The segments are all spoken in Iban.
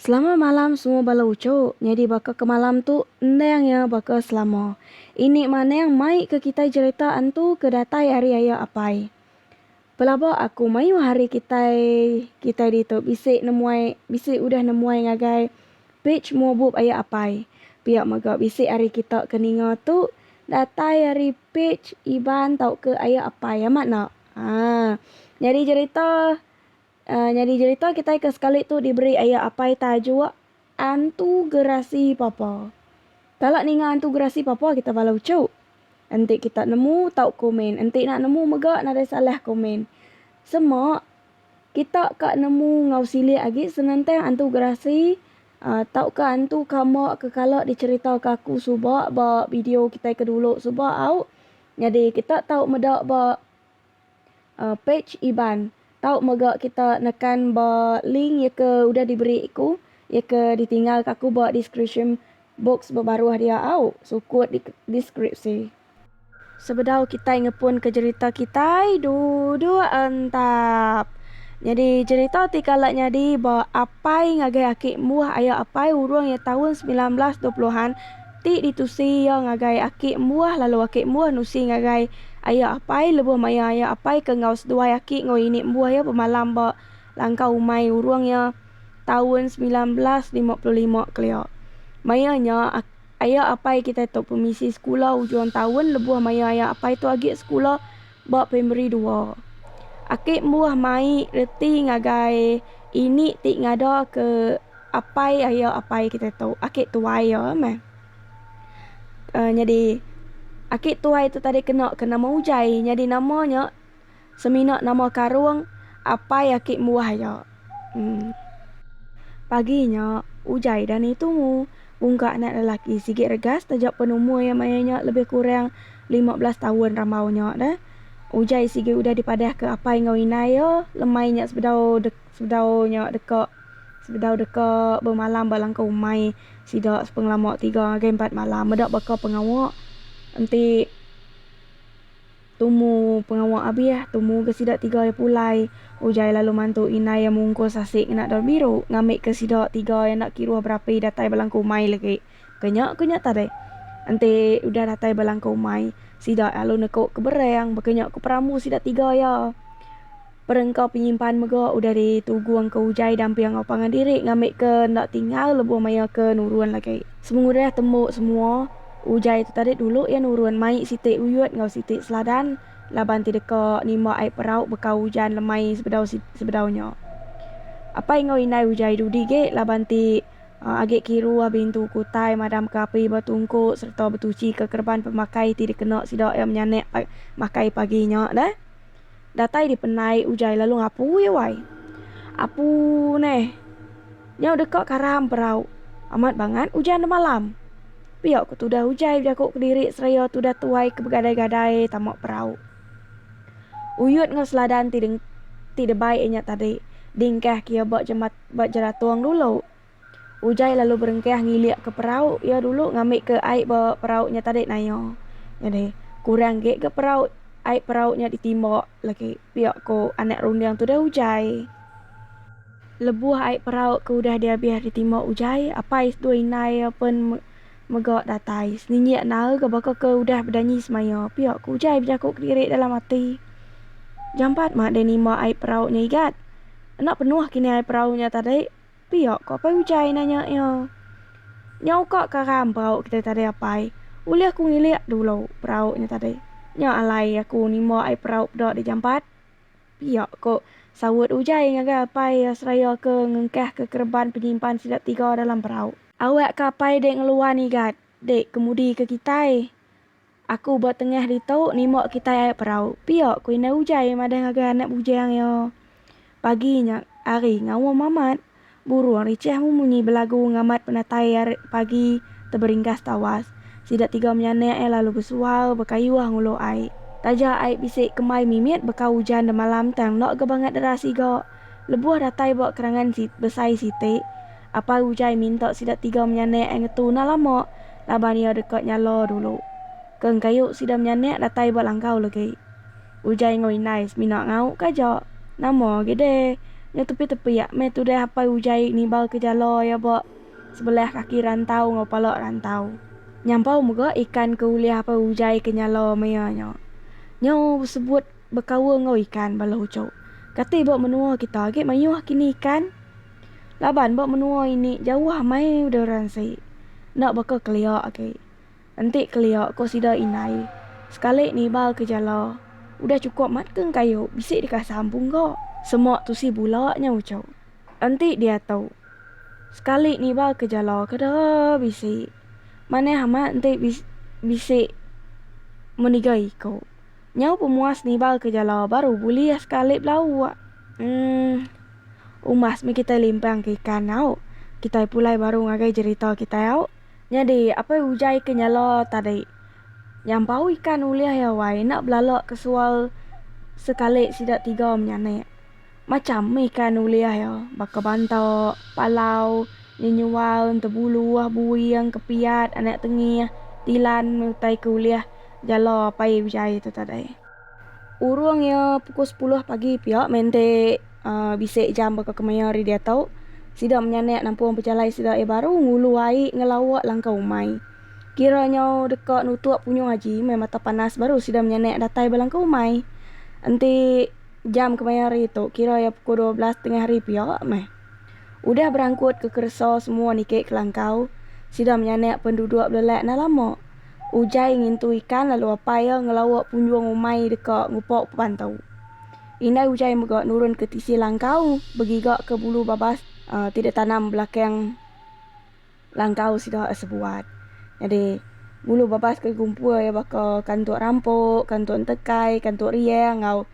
Selama malam semua bala uchuk nyadi baka ke malam tu endang iya baka selama. Ini manang mai ke kitai jerita antu ke datai ari aya apai. Pelaba aku mayuh hari kitai kitai ditu bisi nemuai bisi udah nemuai ngagai page mua bup aya apai. Pia mega bisi ari kita ke ninga tu datai ari page Iban tauka aya apai amat enda. Haa nyadi jerita nyadi jerita kitai ke sekali tu diberi aya apai taja. Antu Gerasi Papa. Kala ninga Antu Gerasi Papa kita bala uchu. Enti kita nemu tau komen enti nak nemu mega nadai salah komen. Sema kita ka nemu enggau silik agi senentang Antu Gerasi uhh tauka Antu Kamba ke kala dicerita ke aku suba ba video kitai ke dulu suba au. Nyadi kita tau meda ba. pej Iban tau mega kita nekan ba link iya ke udah diberi ku iya ke ditinggal ka aku ba deskripsyen box ba baruh dia au sukut di deskripsi. Sebedau kitai ngepun ke jerita kitai duduk entap. Nyadi jerita ti kala nyadi ba apai ngagai aki mbuh aya apai urung iya taun semilan belas dua puluh an. Ti ditusi iya ngagai aki embuah lalu aki embuah nusi ngagai aya apai lebuh maya aya apai ke enggau seduai aki enggau ini embuah iya bemalam ba langkau umai urung iya taun semilan belas lima puluh lima kelia. Maya nya aya apai kitai tu pemisi sekula ujung taun lebuh maya aya apai tu agi sekula. ba primari dua. Aki embuh mai reti ngagai ini ti ngadaka apai aya apai kita tu, aki tuai iya meh. uhh nyadi aki tuai tu tadi kena ke nama Ujai, nyadi nama nya semina nama karung apai aki embuh iya. Pagi nya, ujai da ni tumu. Bungka anak lelaki sigi regas taja pen umur iya maya nya lebih kurang lima belas taun rambau nya da. Ujai sigi udah dipadahka apai enggau indai iya lemai nya sebedau dek sebedau nya deka sebedau deka bemalam ba langkau umai sida sepengelama tiga ngagai empat malam meda baka pengawa enti. Tumu pengawa abih, tumu ga sida tiga iya pulai, ujar lalu mantu indai iya mungkus asik ngena daun biru ngambi ke sida tiga iya enda kiruh berapi datai bala engku umai legi. Ke nya, ke nya tadi. Enti udah datai bala engku umai, sida lalu neku ke bereng baka nya ku perambu sida tiga iya. Perengka penyimpan mega udah di tugu angka ujai dampi enggau pangan diri ngambi ke enda tinggal lebuh maya ke nurun lagi. Semengudah tembu semua, ujai tu tadi dulu iya nurun mai siti uyut enggau siti seladan laban ti deka nimba ai perau beka ujan lemai sebedau sebedau nya. Apai enggau indai ujai dudi ge laban ti agi kiru agi intu ku utai madam ke api ba tungku serta betuchi ke kereban pemakai ti dikena sida iya menyanek makai pagi nya deh. Datai di penai ujai lalu ngapu ye wai. Apu neh. Nyau deka karam perau. Amat bangat ujan demalam. Pia ke tudah ujai bejaku kediri seraya tudah tuai ke begadai-gadai tama perau. Uyut enggau seladan ti deng ti debai inya tadi dingkah ke iya ba jembat ba jeratung dulu. Ujai lalu berengkah ngilikka perau iya dulu ngambika ai ba perau nya tadi naia. Nyadi, kurang agi ga perau ai perau nya ditimba lagi, pia ku anak runding tu deh Ujai. Lebuh ai perau ke udah dihabis ditimba Ujai, apai seduai indai iya pen mega datai. Seninyik naal ga baka ke udah bedanyi semaya, pia ku Ujai bejaku kediri dalam ati. Jampat mah deh nimba ai perau nya igat. Enda penuh kini ai perau nya tadi. Pia, ku Apai Ujai nanya iya. Nyau ka karam perau kitai tadi Apai, ulih ku ngilik dulu perau nya tadi. Nya alai aku nimba ai perau peda di jampat. Pia, ku saut Ujai ngagai Apai iya seraya ke ngengkah ke kereban penyimpan sida tiga dalam perau. Awak ka Apai dek ngeluan igat dek kemudi ke kitai. Aku ba tengah ditu nimba kitai ai perau. Pia ku indai Ujai madah ngagai anak bujang iya. Pagi nya hari ngaum amat, burung richah memunyi belagu ngambat penatai hari pagi teberinggas tawas. Sida tiga menyanak iya lalu besual bekayuh ngulu ai. Taja ai bisi kembai mimit beka ujan demalam tang enda ga bangat deras iga. Lebuh datai ba kerangan besai siti, Apai Ujai minta sida tiga menyanak ai ngetu enda lama laban iya deka nyala dulu. Ke engkayu sida menyanak datai ba langkau legi. Ujai enggau indai semina ngaukka aja. Nama agi deh nya tepiak-tepiak meh tudah apai Ujai nibalka jala iya ba sebelah kaki rantau enggau pala rantau. Nyampau mega ikan ke ulih apai Ujai ke nyala meh iya nya. Nya sebut bekaul enggau ikan bala uchu. Kati ba menua kita agi mayuh kini ikan. Laban ba menua ini jauh amai udah ransi. Enda baka kelia agi. Enti kelia ko sida indai, sekali niba ke jala udah chukup mat ke kayu bisi dikasa ampung ga. Sema tusi bula nya uchu. Enti diatu sekali niba ke jala kada bisi manah amat enti bisi bisi meniga iko. Nyau pemuas niba ke jala baru bulih sekali belauk. Emm. Umas meh kitai limpang ke ikan au, kitai pulai baru ngagai jerita kitai au. Nyadi apai ujai ke nyala tadi nyampau ikan ulih iya wai enda belala ke sual sekali sida tiga menyanek. Macham meh ikan ulih iya baka banta, palau, nyenyual, entebulu, buing, kepiat, anak tengih, tilan utai ke ulih jala apai ujai tu tadi. Urung iya pukul sepuluh pagi pia mende bisi jam baka kemaya hari diatu sida menyanek nampung pejalai sida iya baru ngulu ai ngelawa langkau umai. Kira nyau deka nutup punyung aji meh mata panas baru sida menyanek datai ba langkau umai. Enti jam kemaya hari tu kira iya pukul dua belas tengah hari pia meh. Udah berangkut ke keresa semua niki kelangkau, sida menyanak penduduk belelak enda lama. Ujai ngintu ikan lalu apai iya ngelauk punjung umai deka ngupa pebantau. Indai Ujai mega nurun ke tisi langkau begigaka bulu babas ti ditanam belakang. Langkau sida asa buat. Nyadi, ngulu babas ke gumpur iya baka kantuk rampok, kantuk entekai, kantuk riang enggau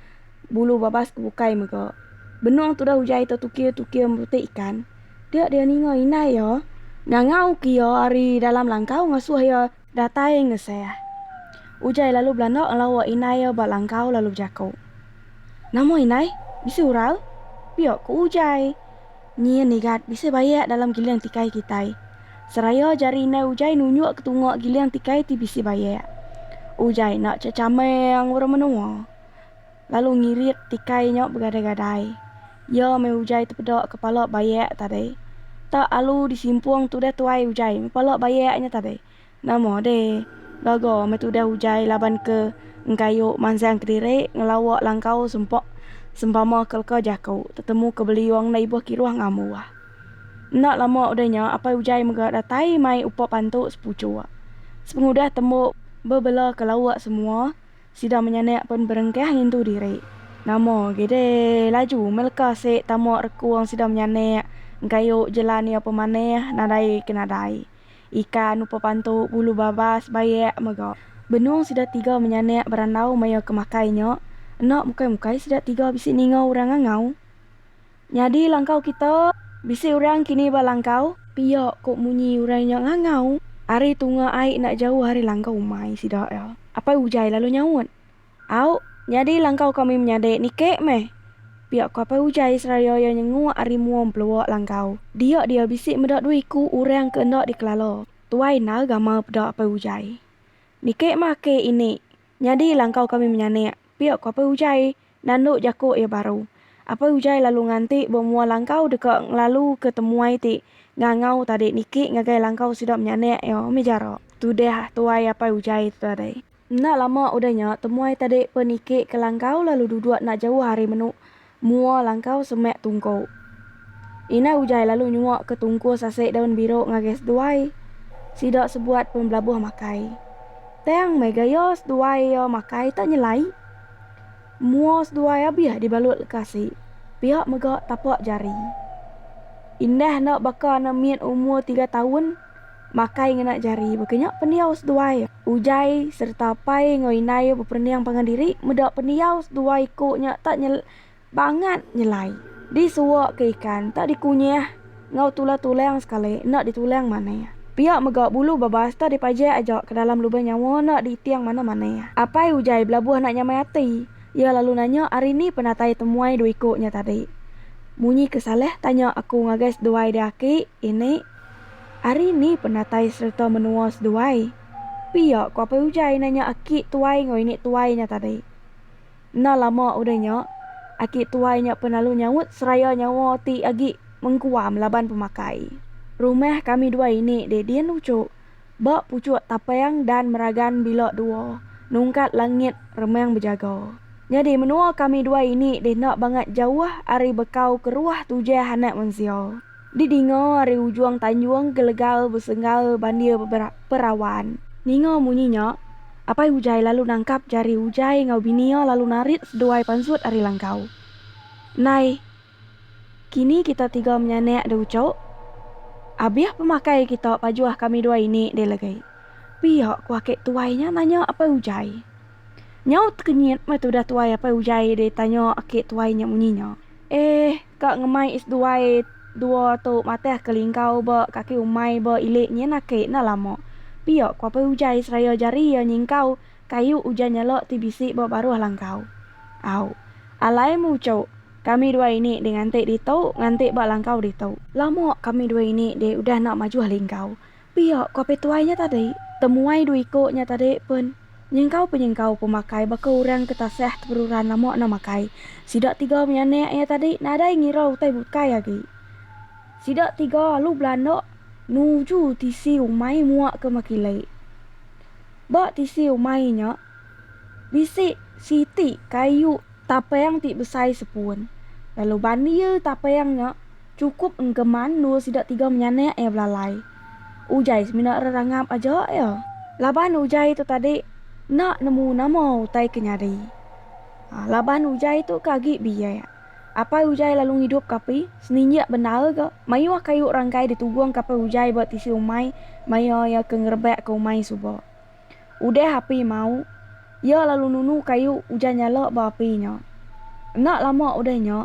bulu babas ke bukai mega. Benung tudah ujai tu tukir-tukir merutik ikan, dia dia ninga indai iya ngangauka iya ari dalam langkau ngasuh iya. Datai Ngeseh. Ujai lalu belanda ngelawa indai iya ba langkau lalu bejaku, Nama indai? Bisi ural? Pia ku Ujai. Nyin igat bisi bayak dalam giling tikai kitai. Seraya jari indai Ujai nunjuk ke tunga giling tikai ti bisi bayak. Ujai enda chechameng orang menua. lalu ngirit tikai nya begadai-gadai. Iya meh ujai tepeda kepala bayak tadi. Tak alu disimpung tudah tuai ujai meh pala bayak nya tadi. Nama deh, gaga meh tudah ujai laban ke engkayu mansang kediri ngelawa langkau sempa sempama ke leka jaku tetemu ke beliung enda ibuh kiruh ngambuh. Enda lama udah nya apai ujai mega datai mai upa pantu sepuchuk. Sepengudah tembu bebela ke lawa semua, Sida menyanak pen berengkah ngintu diri. Nama agi deh laju meh leka sik tama rekung sida menyanak engkayu jelan iya pemanah nadai ke nadai. Ikan upa pantu bulu babas bayak mega. Benung sida tiga menyanak berandau maya ke makai nya, enda mukai-mukai sida tiga bisi ninga orang ngangau. Nyadi langkau kita. Bisi orang kini ba langkau. Pia ko munyi orang nya ngangau. Ari tunga ai enda jauh ari langkau umai sida iya. Apai Ujai lalu nyaut. Au, nyadi langkau kami menyadi nike meh. Pia ko Apai Ujai seraya iya nyenguk ari mua empelua langkau. Dia dia bisi meda dua iku orang ke enda dikelala. Tuai endar gamal peda Apai Ujai. Nike mah ake ini. Nyadi langkau kami menyanik. Pia ko Apai Ujai Nandu jaku iya baru. Apai Ujai lalu nganti ba mua langkau deka ngelalu ke temuai ti ngangau tadi niki ngagai langkau sida menyanak iya mih jarak. Tudah tuai apai Ujai tu tadi. Enda lama udah nya temuai tadi pun niki ke langkau lalu duduk enda jauh ari menu mua langkau semak tungku. Indai Ujai lalu nyuak ke tungku sasik daun biru ngagai seduai. Sida sebuat pun belabuh makai. Tang mega iya seduai iya makai tak nyelai. Mua seduai abih dibalut lekasi, pia mega tapak jari. Indah enda baka anak mit umur tiga taun makai ngena jari baka nya pendiau seduai Ujai sereta apai enggau indai beperending pangan diri meda pendiau seduai ku nya tak Bangat nyelai. Di suwa ke ikan tak di kunyah ngau tulah tulang sekali enda di tulang manah. Pia mega bulu babas tak di pajak aja ke dalam lubang nyawa enda di iting manah manah. Apai Ujai belabuh enda nyamai ati. Iya lalu nanya ari ni penatai temuai dua iko nya tadi. Munyi ke salah tanya aku ngagai seduai di aki ini ari ni penatai sereta menua seduai. Pia ko Apai Ujai nanya aki tuai ngau ini tuai nya tadi. Enda lama udah nya, aki tuai nya pen lalu nyaut seraya nyawa ti agi mengkuam laban pemakai. Rumah kami dua ini dek din lucu, ba puchuk tapang dan meragan bila dua nungkat langit remang bejaga. Nyadi menua kami dua ini deh enda bangat jauh ari bekau keruah tujah anak mensia. Di dinga ari ujung tanjung Gelegal besenggal bandir perawan. Ninga munyi nya, Apai Ujai lalu nangkap jari Ujai enggau bini iya lalu narit seduai pansut ari langkau. Nai, kini kita tiga menyanak deh ucuk. Abih pemakai kita pajuh kami dua ini deh legai. Pia ku aki tuai nya nanya Apai Ujai. Nyaut kenyit meh tudah tuai apai ujai deh tanya ake tuai nya munyi nya. Eh ka ngemai is duai dua tu matah ke lingkau ba kaki umai ba ilik nyin ake enda lama. Pia ku apai ujai seraya jari iya nyingkau kayu ujan nyala ti bisi ba baruh langkau. Au. Alai meh uchuk. Kami dua ini deh nganti ditu nganti ba langkau ditu. Lama kami dua ini deh udah enda majuh lingkau. Pia ku apai tuai nya tadi, temuai dua iko nya tadi pen nyengkau-penyengkau pemakai baka orang ke tasah teperuran lama enda makai. Sida tiga mih anak iya tadi nadai ngira utai bukai agi. Sida tiga alu belanda nuju tisi umai mua ke Makilai. Ba tisi umai nya, Bisi siti kayu tapang ti besai sepun, lalu bandil tapang nya chukup engkeman endur sida tiga menyanak iya belalai. Ujai semina rerangap aja iya laban ujai tu tadi enda nemu nama utai ke nyadi. Laban ujai tu ke agi biak. Apai ujai lalu ngidupka api, seninjik bendar ga mayuh kayu rangkai ditugungka apai ujai ba tisi umai maya iya ke ngerebakka umai suba. Udah api mau, iya lalu nunu kayu ujan nyala ba api nya. Enda lama udah nya,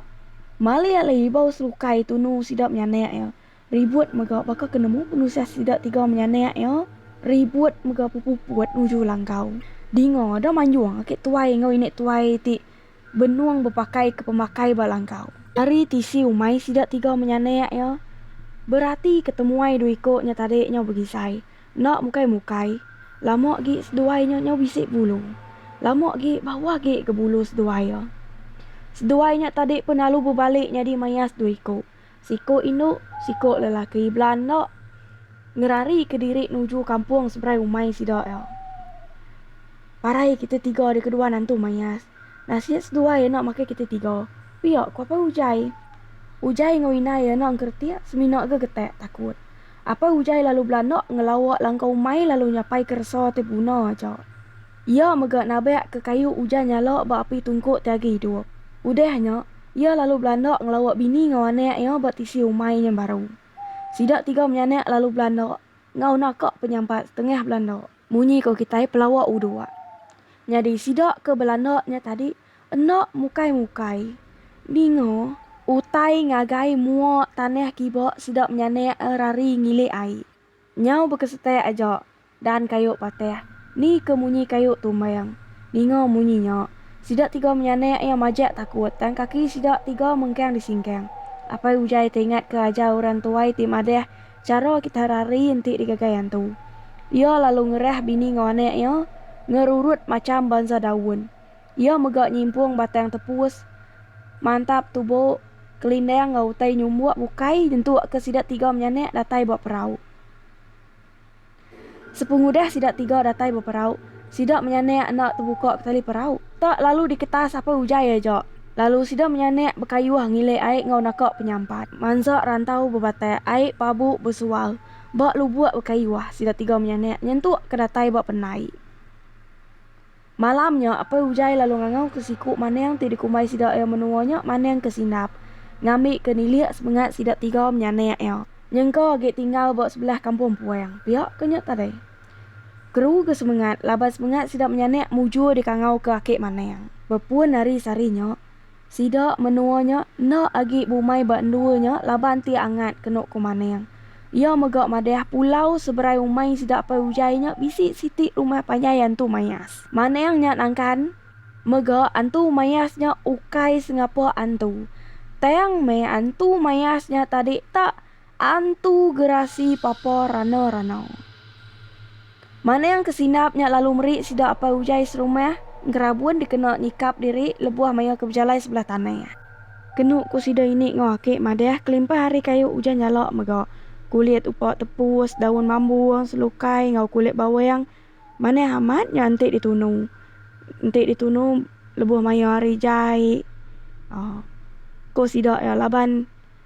malih alai ibau selukai tunu sida menyanak iya, ribut mega baka ke nemu penusah sida tiga menyanak iya ribut mega bepuput nuju langkau. Dinga da manjung aki tuai enggau ini tuai ti benung bepakaika pemakai ba langkau. Ari tisi umai sida tiga menyanak iya, beratika temuai dua iku nya tadi nya begisai, Enda mukai mukai, lama agi seduai nya nyau bisi bulu. Lama agi bauh agi ga bulu seduai iya. Seduai nya tadi pun lalu bebali nyadi mayas dua iku, siku indu, siku lelaki bela enda ngerari ke diri nuju kampung seberai umai sida iya. Parai kita tiga dikadua nantu mayas. Nasit seduai anak makai kitai tiga. Pia, ku apai Ujai. Ujai enggau indai iya anak engkeretik semina ga getak takut. Apai Ujai lalu belanda ngelawa langkau umai lalu nyapai ke resa ti beguna aja. Iya mega nabak ke kayu Ujai nyala ba api tungkuk ti agi idup. Udah nya, iya lalu belanda ngelawa bini enggau anak iya ba tisi umai nya baru. Sida tiga menyanak lalu belanda enggau naka penyampat setengah belanda. Munyi ko kitai pelawa udok. Nyadi sida ke belanda nya tadi enda mukai mukai. Ninga utai ngagai mua tanah kiba sida menyanak eh rari ngilik ai. Nyau bekesetak aja dan kayu patah ni ke munyi kayu tumbang. Ninga munyi nya. Sida tiga menyanak iya majak takut tang kaki sida tiga mengkang disingkang. Apai Ujai teringat ke ajar orang tuai ti madah. Chara kitai hari-hari enti digagai antu. Iya lalu ngerah bini enggau anak iya ngerurut macham bansa daun. Iya mega nyimpung batang tepus, mantap tubuk, kelindang enggau utai nyumbuk bukai nyentukka sida tiga menyanak datai ba perau. Sepengudah sida tiga datai beperau, sida menyanak enda tebuka ketali perau. Tak lalu diketa sapai ujai aja, lalu sida menyanak bekayuh ngilih ai enggau naka penyampat. Mansa rantau bebatak ai pabu besual ba lubuk bekayuh, sida tiga menyanak nyentuk ke datai ba pendai. Malam nya, Apai Ujai lalu ngangauka siku Maning ti dikumbai sida iya menua nya Maning ke Sindap, ngambika nilih semengat sida tiga menyanak iya. Nyengka agi tinggal ba sebelah kampung Puang, pia ke nya tadi. Keruga semengat laban semengat sida menyanak mujur dikangauka aki Maning. Bepun ari sehari nya. Sida menua nya enda agi bumai ba endua nya laban ti angat kenu ku Maning. Iya mega madah pulau seberai umai sida apai Ujai nya bisi siti rumah panjai Antu Mayas. Maning nya nangkan mega Antu Mayas nya ukai sengapa antu. Tang meh Antu Mayas nya tadi tak. Antu Gerasi Papa Rana Rana. Manang ke Sindap nya lalu meri sida Apai Ujai serumah Gerabun dikena nyikap diri lebuh maya ke bejalai sebelah tanah. Kenu ku sida ini enggau aki madah kelimpah ari kayu ujan jala mega kulit upa tepus, daun bambu, selukai enggau kulit bawang manah amat nya enti ditunu enti ditunu lebuh maya hari jai. Ko sida iya laban.